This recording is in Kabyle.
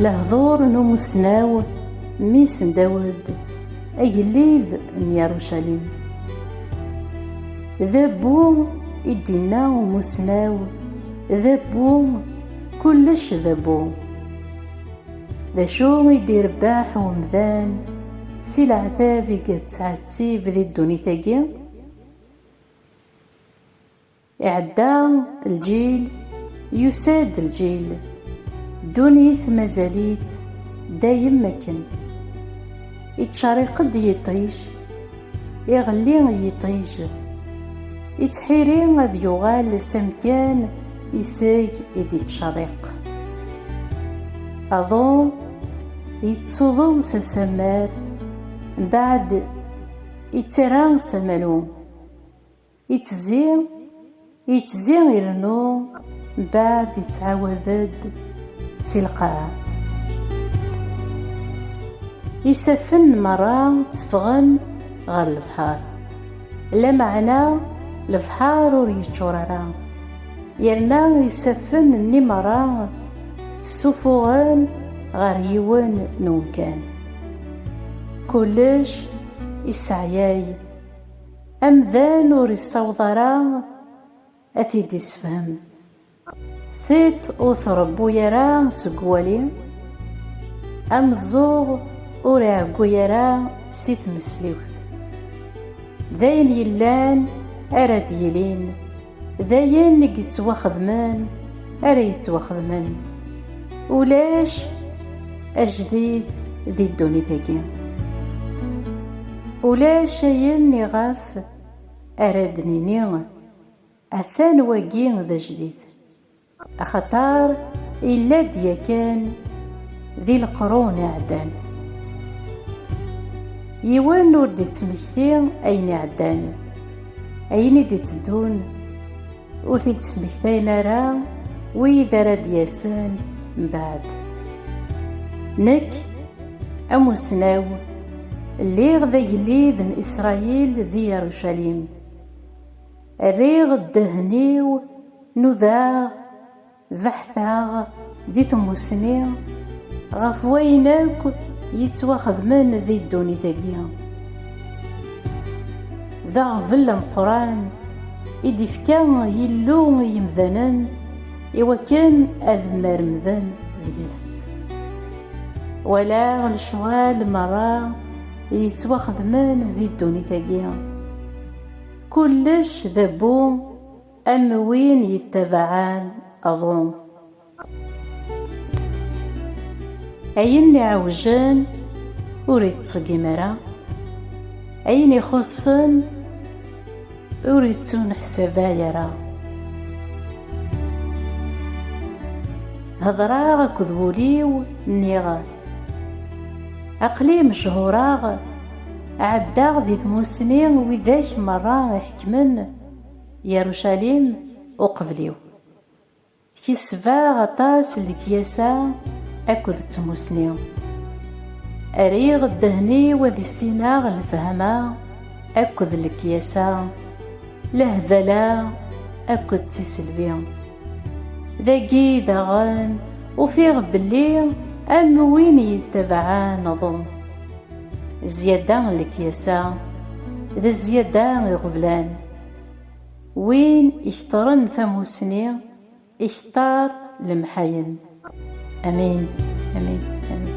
Lehdur n umussnaw mmi-s n Dawed, agellid n Yarucalim. D abbu i d-inna umussnaw, d abbu, kullec d abbu. D acu i d-irebbeḥ umdan si leɛtab i yettɛettib di ddunit-agi? Iɛedda lǧil, yusa-d lǧil. Ddunit mazal-itt dayem akken. Iččariq-d yiṭij, iɣelli yiṭij. Ittḥiri ad yuɣal s amkan iseg i d-ittcerriq. Aḍu yettsuḍu s asammar, mbaɛd ittarra s amalu. Ittezzi, ittezzi irennu mbaɛd ittɛawad-d si lqaɛa. Isaffen merra ttefɣen ɣer lebḥer. Lameɛna lebḥer ur yeččur ara, yerna isaffen nni merra ssufuɣen ɣer yiwen n umkan. Kullec isseɛyay. Amdan ur isaweḍ ara ad t-id-isefhem. Tiṭ ur trebbu ara seg wali, ameẓẓuɣ ur iɛeggu ara si tmesliwt. D ayen yellan ara d-yilin. D ayen i yettwaxedmen ara yettwaxedmen. Ulac ajdid di ddunit-agi. Ulac ayen iɣef ara d-nini atan wagi d ajdid. Axaṭer illa-d yakan di leqrun iɛeddan, yiwen ur d-ittmekti ayen iɛeddan, ayen i d-itteddun ur t-id-smektayen ara wid ara d-yasen mbaɛd. Nekk, amussnaw, lliɣ d agellid n Isṛayil di Yarucalim, rriɣ ddehn-iw, Nudaɣ, beḥteɣ di tmusni ɣef wayen akk yettwaxedmen di ddunit-agi. D aɣbel ameqqran i d-ifka Yillu i yemdanen i wakken ad mmermden deg-s. Walaɣ lecɣal merra yettwaxedmen di ddunit-agi. Kullec d abbu. Am win yettabaɛen aḍu. Ayen iɛewjen ur yettṣeggim ara, ayen ixuṣṣen ur yettuneḥsabay ara. Hedreɣ akked wul-iw nniɣ, aql-i mechureɣ, ɛeddaɣ di tmusni widak merra iḥekmen, Yarucalim uqbel-iw. Kesbeɣ aṭas n lekyasa akked tmussni. Rriɣ ddehn-iw ad issineɣ lefhama akked lekyasa, lehbala akked tiselbi. Dagi daɣen ufiɣ belli am win yettabaɛen aḍu. Zzyada n lekyasa d zzyada iɣeblan. Win ikeṭren tamusni ikeṭṭer lemḥayen. Amin, amin, amin.